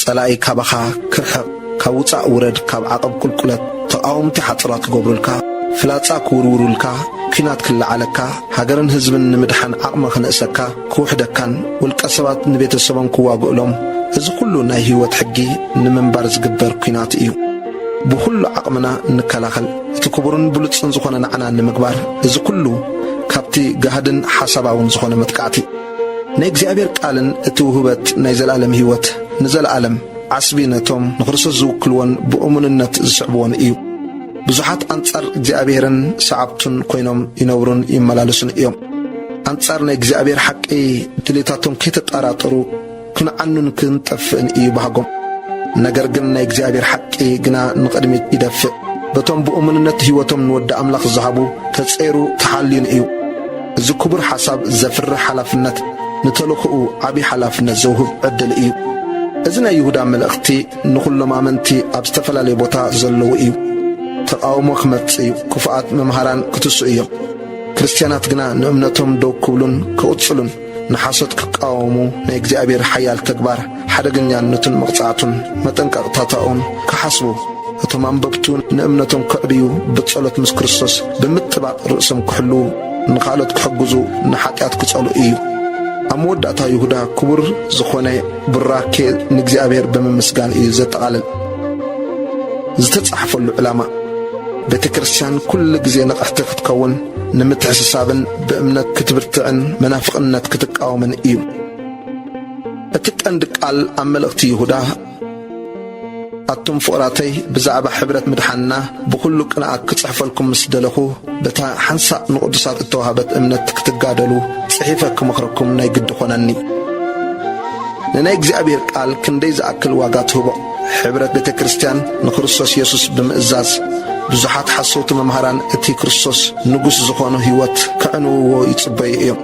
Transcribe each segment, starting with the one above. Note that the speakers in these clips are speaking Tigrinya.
ጸላኢ ካባኻ ክርሕቕ ካብ ውጻእ ውረድ ካብ ዓቐብ ቁልቁለት ተቓወምቲ ሓጽራ ክገብሩልካ ፍላጻ ክውርውሩልካ ኩናት ክለዓለካ ሃገርን ህዝብን ንምድሓን ዓቕሚ ክንእሰካ ክውሕደካን ውልቀ ሰባት ንቤተሰቦም ክዋግእሎም እዚ ኩሉ ናይ ህይወት ሕጊ ንምንባር ዝግበር ኩናት እዩ ብኹሉ ዓቕምና ንከላኸል እቲ ክቡርን ብሉጽን ዝኾነ ናዕና ንምግባር እዚ ኩሉ ካብቲ ጋህድን ሓሳባውን ዝኾነ መጥቃዕቲ ናይ እግዚኣብሔር ቃልን እቲ ውህበት ናይ ዘለዓለም ሕይወት ንዘለዓለም ዓስቢ ነቶም ንክርስቶስ ዝውክልዎን ብእሙንነት ዝስዕብዎን እዩ። ብዙሓት ኣንጻር እግዚኣብሔርን ሰዓብቱን ኮይኖም ይነብሩን ይመላለሱን እዮም። ኣንጻር ናይ እግዚኣብሔር ሓቂ ድሌታቶም ከይተጣራጠሩ ክንዓኑን ክንጠፍእን እዩ ባህጎም። ነገር ግን ናይ እግዚኣብሔር ሓቂ ግና ንቕድሚት ይደፍእ። በቶም ብእሙንነት ሕይወቶም ንወዲ ኣምላኽ ዝሃቡ ተጸይሩ ተሓልዩን እዩ። እዚ ክቡር ሓሳብ ዘፍርሕ ሓላፍነት ንተልኽኡ ዓብዪ ሓላፍነት ዘውህብ ዕድል እዩ። እዚ ናይ ይሁዳ መልእኽቲ ንዅሎም ኣመንቲ ኣብ ዝተፈላለየ ቦታ ዘለዉ እዩ። ተቓውሞ ክመጽእ እዩ፣ ክፉኣት መምሃራን ክትስኡ እዮም። ክርስትያናት ግና ንእምነቶም ደው ክብሉን ክቕጽሉን ንሓሶት ክቃወሙ ናይ እግዚኣብሔር ሓያል ተግባር ሓደገኛነቱን መቕጻዕቱን መጠንቀቕታታኡን ክሓስቡ እቶም ኣንበብቱ ንእምነቶም ከዕብዩ ብጸሎት ምስ ክርስቶስ ብምጥባቕ ርእሶም ክሕልዉ ንኻልኦት ክሕግዙ ንሓጢኣት ክጸሉ እዩ። ኣብ መወዳእታ ይሁዳ ክቡር ዝኾነ ቡራኬ ንእግዚኣብሔር ብምምስጋን እዩ ዘጠቓልል። ዝተጻሕፈሉ ዕላማ ቤተ ክርስቲያን ኩሉ ግዜ ንቕሕቲ ክትከውን ንምትሕስሳብን ብእምነት ክትብርትዕን መናፍቕነት ክትቃወምን እዩ። እቲ ቀንዲ ቃል ኣብ መልእኽቲ ይሁዳ ኣቱም ፍቕራተይ ብዛዕባ ሕብረት ምድሓንና ብዅሉ ቅንኣት ክጽሕፈልኩም ምስ ደለኹ በታ ሓንሳእ ንቕዱሳት እተዋህበት እምነት ክትጋደሉ ጽሒፈ ክመኽረኩም ናይ ግዲ ዀነኒ። ንናይ እግዚኣብሄር ቃል ክንደይ ዝኣክል ዋጋ ትህቦ? ሕብረት ቤተ ክርስቲያን ንክርስቶስ የሱስ ብምእዛዝ ብዙሓት ሓሰውቲ መምሃራን እቲ ክርስቶስ ንጉሥ ዝኾኖ ሕይወት ከዕንውዎ ይጽበዩ እዮም።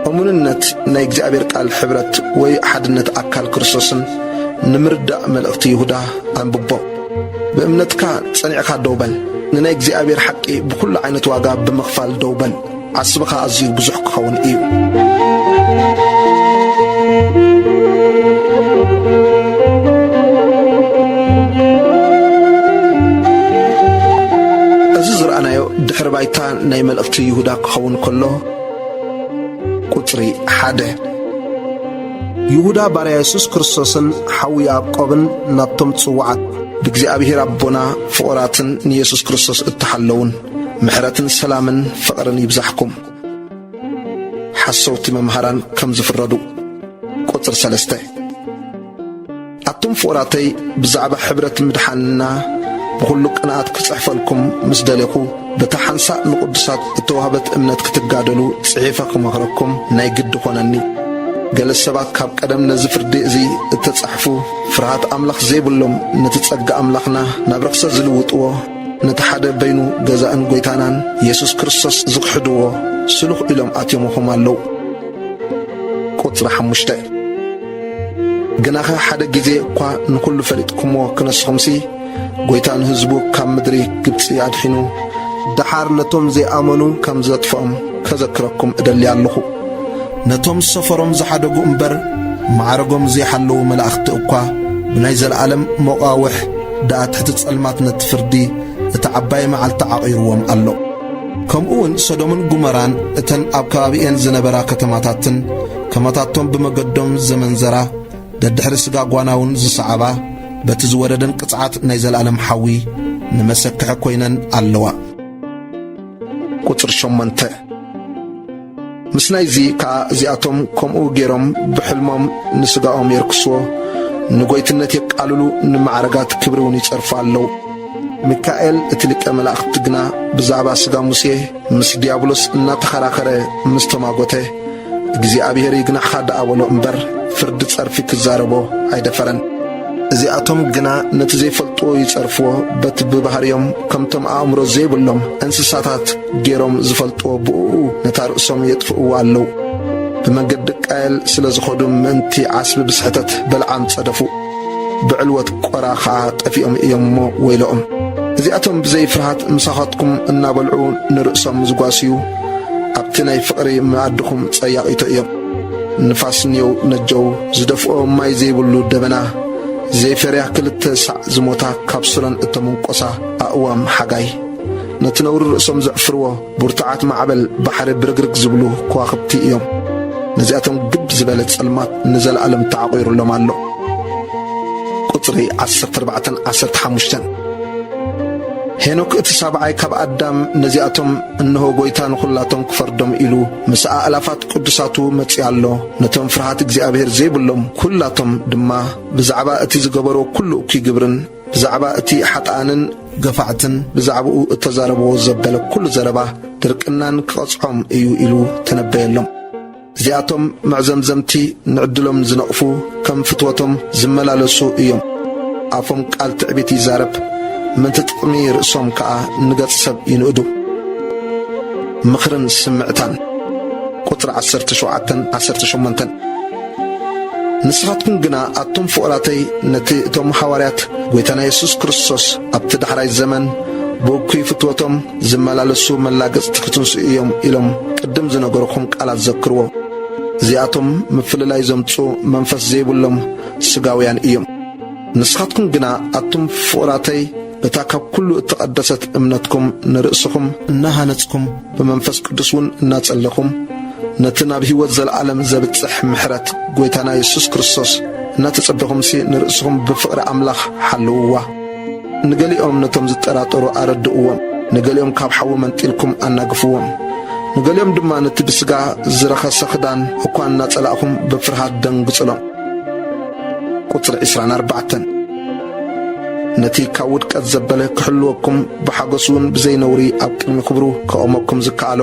እሙንነት ናይ እግዚኣብሔር ቃል ሕብረት ወይ ሓድነት ኣካል ክርስቶስን ንምርዳእ መልእኽቲ ይሁዳ ኣንብቦ። ብእምነትካ ጸኒዕካ ደው በል፣ ንናይ እግዚኣብሔር ሓቂ ብኹሉ ዓይነት ዋጋ ብምኽፋል ደው በል። ዓስብኻ ኣዝዩ ብዙሕ ክኸውን እዩ። እዚ ዝረኣናዮ ድሕሪ ባይታ ናይ መልእኽቲ ይሁዳ ክኸውን ከሎ ቁጽሪ ሓደ ይሁዳ ባርያ የሱስ ክርስቶስን ሓው ያዕቆብን ናብቶም ጽዋዓት ብእግዚኣብሔር ኣቦና ፍቑራትን ንየሱስ ክርስቶስ እተሓለዉን ምሕረትን ሰላምን ፍቕርን ይብዛሕኩም። ሓሰውቲ መምሃራን ከም ዝፍረዱ። ቁጽሪ ሰለስተ። ኣቱም ፍቑራተይ ብዛዕባ ሕብረት ምድሓንና ብዅሉ ቅንኣት ክጽሕፈልኩም ምስ ደሌኹ በታ ሓንሳእ ንቕዱሳት እተዋህበት እምነት ክትጋደሉ ጽሒፈ ክመኽረኩም ናይ ግዲ ዀነኒ። ገለ ሰባት ካብ ቀደም ነዚ ፍርዲ እዚ እተጻሕፉ ፍርሃት ኣምላኽ ዘይብሎም ነቲ ጸጋ ኣምላኽና ናብ ርኽሰት ዝልውጥዎ ነቲ ሓደ በይኑ ገዛእን ጐይታናን የሱስ ክርስቶስ ዝኽሕድዎ ስሉኽ ኢሎም ኣትዮምኹም ኣለዉ። ቁጽሪ ሓሙሽተ ግናኸ ሓደ ጊዜ እኳ ንዅሉ ፈሊጥኩምዎ ክነስኹምሲ፣ ጐይታ ንህዝቡ ካብ ምድሪ ግብጺ ኣድሒኑ፣ ደሓር ነቶም ዘይኣመኑ ከም ዘጥፍኦም ከዘክረኩም እደሊ ኣሎኹ። ነቶም ሰፈሮም ዝሓደጉ እምበር ማዕረጎም ዘይሓለዉ መላእኽቲ እኳ ብናይ ዘለዓለም መቓውሕ ደኣ ትሕቲ ጸልማትነት ፍርዲ እታ ዓባይ መዓልቲ ዓቚሩዎም ኣሎ። ከምኡውን ሰዶምን ጉመራን እተን ኣብ ከባቢኤን ዝነበራ ከተማታትን ከማታቶም ብመገዶም ዘመንዘራ ደድሕሪ ስጋ ጓናውን ዝሰዓባ በቲ ዝወረደን ቅጽዓት ናይ ዘለኣለም ሓዊ ንመሰክሒ ኮይነን ኣለዋ። ቁጽሪ ሸሞንተ ምስ ናይዚ ከኣ እዚኣቶም ከምኡ ገይሮም ብሕልሞም ንስጋኦም የርክስዎ ንጐይትነት የቃልሉ ንማዕረጋት ክብሪ እውን ይጸርፉ ኣለዉ ሚካኤል እቲ ሊቀ መላእኽቲ ግና ብዛዕባ ስጋ ሙሴ ምስ ዲያብሎስ እናተኸራኸረ ምስ ተማጐተ እግዚኣብሔር ይግናሕኻ ደኣ በሎ እምበር ፍርዲ ጸርፊ ክዛረቦ ኣይደፈረን። እዚኣቶም ግና ነቲ ዘይፈልጥዎ ይጸርፍዎ፣ በቲ ብባህርዮም ከምቶም ኣእምሮ ዘይብሎም እንስሳታት ገይሮም ዝፈልጥዎ ብእኡ ነታ ርእሶም የጥፍእዋ ኣለዉ። ብመንገዲ ቃየል ስለ ዝኸዱ ምእንቲ ዓስቢ ብስሕተት በልዓም ጸደፉ፣ ብዕልወት ቆራ ኸኣ ጠፊኦም እዮም እሞ ወይለኦም። እዚኣቶም ብዘይ ፍርሃት ምሳኻትኩም እናበልዑ ንርእሶም ዝጓስዩ፣ ኣብቲ ናይ ፍቕሪ መኣድኹም ጸያቒቶ እዮም። ንፋስ ኔው ነጀው ዝደፍኦ ማይ ዘይብሉ ደበና፣ ዘይፈርያ ክልተ ሳዕ ዝሞታ ካብ ሱረን እተመንቈሳ ኣእዋም ሓጋይ፣ ነቲ ነውሪ ርእሶም ዘዕፍርዎ ብርቱዓት ማዕበል ባሕሪ ብርግርግ ዝብሉ ከዋኽብቲ እዮም። ነዚኣቶም ግብ ዝበለ ጸልማት ንዘለኣለም ተዓቝሩሎም ኣሎ። ቁጽሪ ዓሰርተ ኣርባዕተን ዓሰርተ ሓሙሽተን ሄኖክ እቲ ሳብዓይ ካብ ኣዳም ነዚኣቶም እንሆ ጐይታ ንዅላቶም ክፈርዶም ኢሉ ምስ ኣእላፋት ቅዱሳቱ መጺኡ ኣሎ። ነቶም ፍርሃት እግዚኣብሔር ዘይብሎም ኵላቶም ድማ ብዛዕባ እቲ ዝገበሮ ኵሉ እኩይ ግብርን ብዛዕባ እቲ ሓጥኣንን ገፋዕትን ብዛዕባኡ እተዛረብዎ ዘበለ ኵሉ ዘረባ ድርቅናን ክቐጽዖም እዩ ኢሉ ተነበየሎም። እዚኣቶም መዕዘምዘምቲ ንዕድሎም ዝነቕፉ ከም ፍትወቶም ዝመላለሱ እዮም። ኣፎም ቃል ትዕቢት ይዛረብ፣ ምእንቲ ጥቕሚ ርእሶም ከኣ ንገጽ ሰብ ይንእዱ። ምኽርን ስምዕታን ቁጽሪ ዓሰርተ ሸውዓተን ዓሰርተ ሸሞንተን ንስኻትኩም ግና ኣቱም ፍቑራተይ ነቲ እቶም ሃዋርያት ጐይታና የሱስ ክርስቶስ ኣብቲ ዳሕራይ ዘመን ብእኩይ ፍትወቶም ዝመላለሱ መላገጽቲ ክትንስኡ እዮም ኢሎም ቅድም ዝነገርኩም ቃላት ዘክርዎ። እዚኣቶም ምፍልላይ ዘምጽኡ መንፈስ ዘይብሎም ስጋውያን እዮም። ንስኻትኩም ግና ኣቱም ፍቑራተይ በታ ካብ ኩሉ እተቐደሰት እምነትኩም ንርእስኹም እናሃነጽኩም ብመንፈስ ቅዱስ እውን እናጸለኹም ነቲ ናብ ሕይወት ዘለዓለም ዘብጽሕ ምሕረት ጐይታና የሱስ ክርስቶስ እናተጸበኹምሲ ንርእስኹም ብፍቕሪ ኣምላኽ ሓልውዋ። ንገሊኦም ነቶም ዝጠራጠሩ ኣረድእዎም፣ ንገሊኦም ካብ ሓዊ መንጢልኩም ኣናግፍዎም፣ ንገሊኦም ድማ ነቲ ብስጋ ዝረኸሰ ክዳን እኳ እናጸላእኹም ብፍርሃት ደንግጹሎም። ቁጽሪ ዕስራን ኣርባዕተን ነቲ ካብ ውድቀት ዘበለ ክሕልወኩም ብሓጐስውን ብዘይ ነውሪ ኣብ ቅድሚ ክብሩ ከቑመኩም ዝከኣሎ